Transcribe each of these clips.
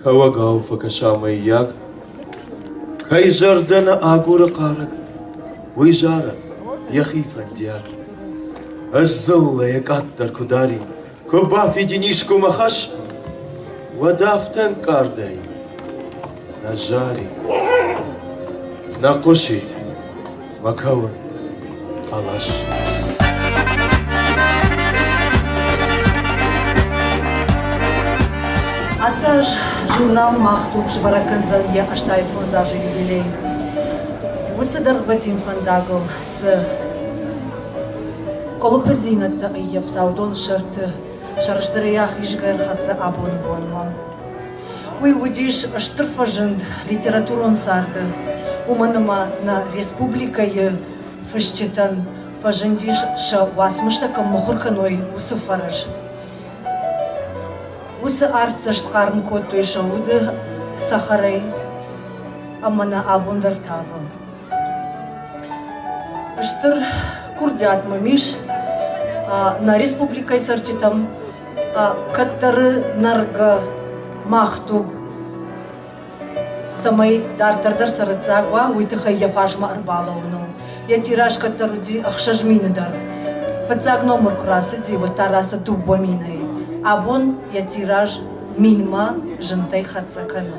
Кӕуӕгау фӕкӕса мыййаг? Кӕй зӕрдӕ нӕ агуры хъарӕг, уый зарӕд, йӕхи фӕндиаг. Ӕз дзыллӕйӕ къаддӕр куы дарин, куы бафидин искуы хӕс, уӕд афтӕ ӕнкъардӕй нӕ зарин, нӕ хъуысид. Макӕуы хъӕлӕс. Ацы аз журнал мах туг сбӕрӕг кӕндзӕн йӕ ӕстайы фондз азы юбилей. Уыцы дӕргъвӕтин фӕндагыл цы къуылыпыдзинӕдтӕ ӕййӕфта, уыдон сӕрты сӕрыстырӕй ахизгӕ ӕрхӕццӕ абоны бонмӕ. Уый уыдис стыр фӕзынд литературон царды, уымӕн ӕмӕ нӕ республикӕйы фысджытӕн фӕзындис сӕ уацмыстӕ кӕм мыхуыр кӕной, уыцы фӕрӕз. Уыцы артдзӕст хъарм кодтой сӕ уды цӕхӕрӕй ӕмӕ нӕ абон дӕр тавы. Стыр курдиат мӕм ис нӕ республикӕйы цӕрджытӕм кӕддӕры нӕргӕ мах туг цӕмӕй дарддӕр дӕр цӕрӕццаг уа, уый тыххӕй йӕ фарсмӕ ӕрбалӕуыныл. Йӕ тираж кӕддӕр уыди ӕхсӕз мины дӕр. Фыццаг номыр куы рацыди, уӕд та рацыд дыууӕ минӕй. Абон йӕ тираж минмӕ зынтӕй хӕццӕ кӕны.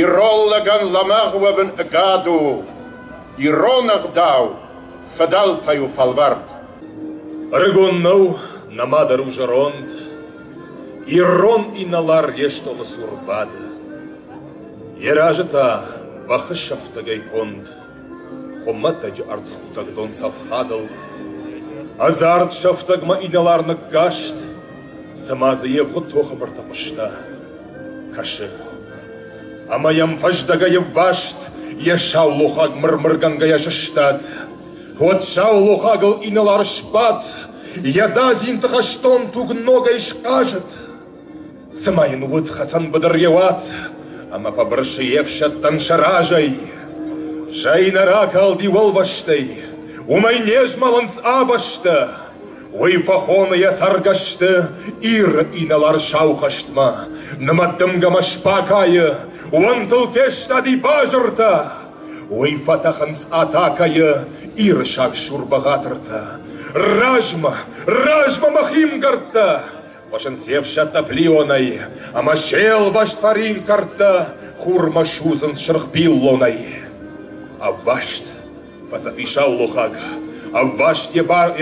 Ирон лӕгӕн лӕмӕгъ уӕвын ӕгад у, ирон ӕгъдау фыдӕлтӕй у фӕлвӕрд. Ӕрыгон нӕу нӕмадӕр у зӕронд, Ирон инӕлар йе стомы цур бады. Йӕ разы та бӕхы сӕфтӕгӕй конд. Хуымӕтӕджы ӕртхутӕг донцӕфхадыл ӕдзард сӕфтӕгмӕ инӕлар ныккаст, цыма дзы йе хуыд тохы бырты хъуыста, кӕсы. Ӕмӕ йӕм фӕздӕгӕй ӕвваст йӕ саулохаг мырмыргӕнгӕйӕ сыстад. Уӕд саулохагыл инӕлар сбадт, йӕ дадзинты хӕстон туг ногӕй схъазыд. Цыма йын уыд хӕцӕнбыдыр йӕ уат, ӕмӕ фӕбырсы йе фсӕдтӕн сӕ разӕй. Зӕй нӕ ракалди уӕлвӕстӕй, уымӕй не змӕлынц ӕбӕстӕ. Уый фӕхоны йӕ цӕргӕсты Иры инӕлар сау хӕстмӕ. Нымӕттымгӕмӕ сбакайы, уӕнтыл фестади базыртӕ. Уый фӕтӕхынц атакӕйы Иры сагсур бӕгъатыртӕ. Размӕ, размӕ мӕ химгӕрдтӕ! Уосӕн се фсӕдтӕ плионӕй, Ӕма се лвӕст фарин кӕрдтӕ Хурмӕ судзынц сырх пиллонӕй. Ӕвваст, фӕсӕфисаллухаг, Ӕвваст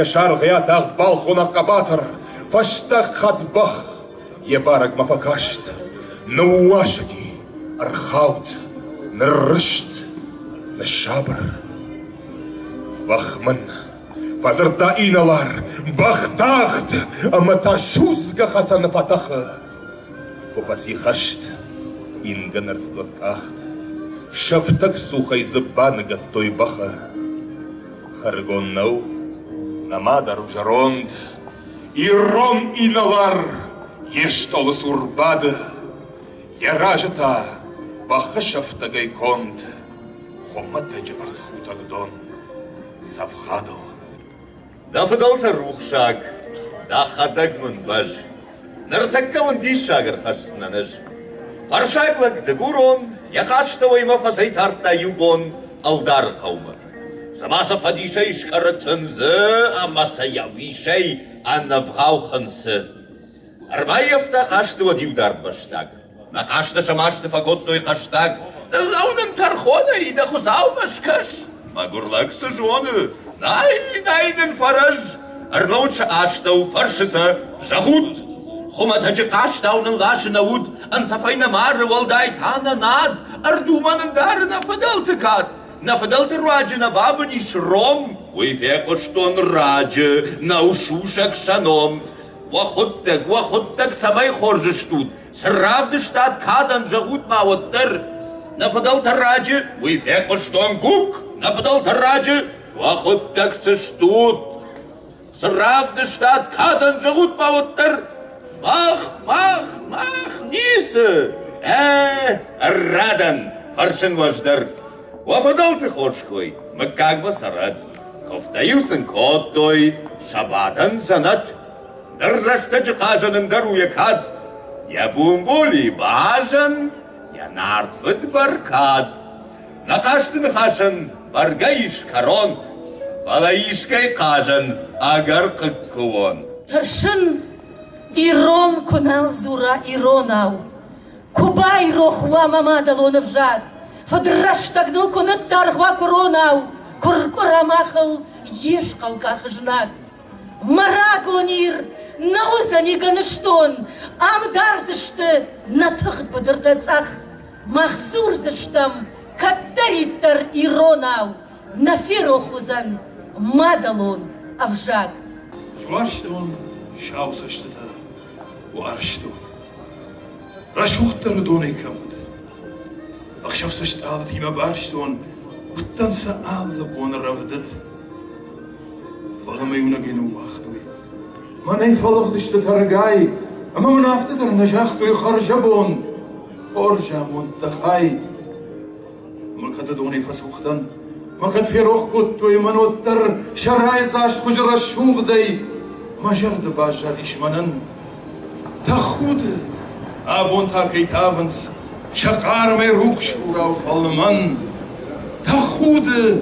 е саргъи атагъд балхонӕг хъӕбатыр, Фӕстаг хатт бӕх е барӕгмӕ фӕкаст. Ныууасӕги, ӕрхауд, ныррызт, ныссабыр. Вахман Фӕдзырдта инӕлар, бӕхтагъд ӕмӕ та судзгӕ хӕцӕны фӕтӕхы. Куы фӕсихӕст, ингӕн ӕрцгуыт къахт, сӕфтӕгцухӕй дзы баныгӕдтой бӕхы. Ӕрыгон нӕу, нӕма дӕр у зӕронд, ирон инӕлар йе стъолы цур бады, йӕ разы та бӕхы сӕфтӕгӕй конд, хуымӕтӕджы ӕртхутӕг дон. Цӕфхадыл. Дӕ фыдӕлтӕ рухсаг, дӕхӕдӕг мын бӕз. Ныртӕккӕ уын диссаг ӕрхӕсдзынӕн ӕз. Фӕрсаг лӕг дыгурон йӕ хъастӕуӕймӕ фӕцӕйтардта иу бон ӕлдары хъӕумӕ. Цыма сӕ фӕдисӕй скъӕры тындзы ӕмӕ сӕ йӕ уисӕй ӕнӕвгъау хынцы. Ӕрбаййӕфта хъазты уӕд иу дард бӕстаг. Нӕ хъазтӕ сӕ масты фӕкодтой хъӕстаг. Лӕу нын тӕрхонӕй дӕ хуыцаумӕ скӕс! Мӕгуыр лӕг цы зоны! Най, най нын фӕрӕз! Ӕрлӕуут сӕ астӕу, фӕрсы сӕ, зӕгъут! Хуымӕтӕджы хъазтау нын ласы нӕ уд, ӕнтӕфӕй нӕ мары уӕлдай та нӕ над, ӕрдумӕ ндары нӕ фыдӕлты кад, нӕ фыдӕлты руаджы нӕ бабын ис ром. Уый фехъуыстон раджы, нӕу сусӕг сӕ ном. Уӕ худтӕг, уӕ худтӕг, цӕмӕй хорз стут? Цы равдыстат кадӕн, зӕгъут ма уӕддӕр. Нӕ фыдӕлтӕ раджы... Уый фехъуыстон, Кук! Нӕ фыдӕлтӕ раджы... Уӕ худтӕг цы стут? Цы равдыстат кадӕн, зӕгъут ма уӕддӕр. Мах, мах, мах, ницы! Ӕ, радӕн, фӕрсын уӕз дӕр. Уӕ фыдӕлты хорз кой мыггагмӕ цӕрӕд, куывтӕ-иу сын кодтой сӕ бадӕн дзӕнӕт. Ныр рӕстӕджы хъазӕн ӕндӕр у йӕ кад, йӕ бумбули базӕн, йӕ нартфыд бӕркад. Нӕ хъазты ныхасӕн бӕргӕ ис кӕрон, фӕлӕ искӕй хъазӕн ӕгӕр хъыг куы уон. Тӕрсын, ирон куы нал дзура иронау. Ку байрох уӕ мӕ мадӕлон ӕвзаг, Фыдрӕстӕг ныл куы ныддаргъ уа куронау, Куы ркъуыра махыл йе схъӕлкъахы знаг. Мӕ рагон Ир нӕ уыдзӕни гӕныстон, Ам дардзысты нӕ тыгъд быдыртӕ цъӕх. Мах дзурдзыстӕм кӕддӕриддӕр иронау, Нӕ ферох уыдзӕн мадӕлон ӕвзаг. Зуарстон сау цӕстытӕ, уарзтон. Рӕсугъддӕр уыдонӕй кӕм уыд. Ӕхсӕв-цы стъалытимӕ барстон, уыдтӕн сӕ алы боны рӕвдыд. Фӕлӕ мӕ иунӕгӕй ныууагътой. Мӕнӕй фӕлыгъдысты тӕргай, ӕмӕ мын афтӕ дӕр нӕ загътой хӕрзӕбон, хорз амонд дӕ хай. Ма кӕд адонӕй фӕцух дӕн, ма кӕд ферох кодтой мӕн уӕддӕр сӕ райдзаст хуызы рӕсугъдӕй, мӕ зӕрды баззадис мӕнӕн тӕхуды, абон та кӕй тавынц сӕ хъармӕй рухс хурау фӕлмӕн, тӕхуды,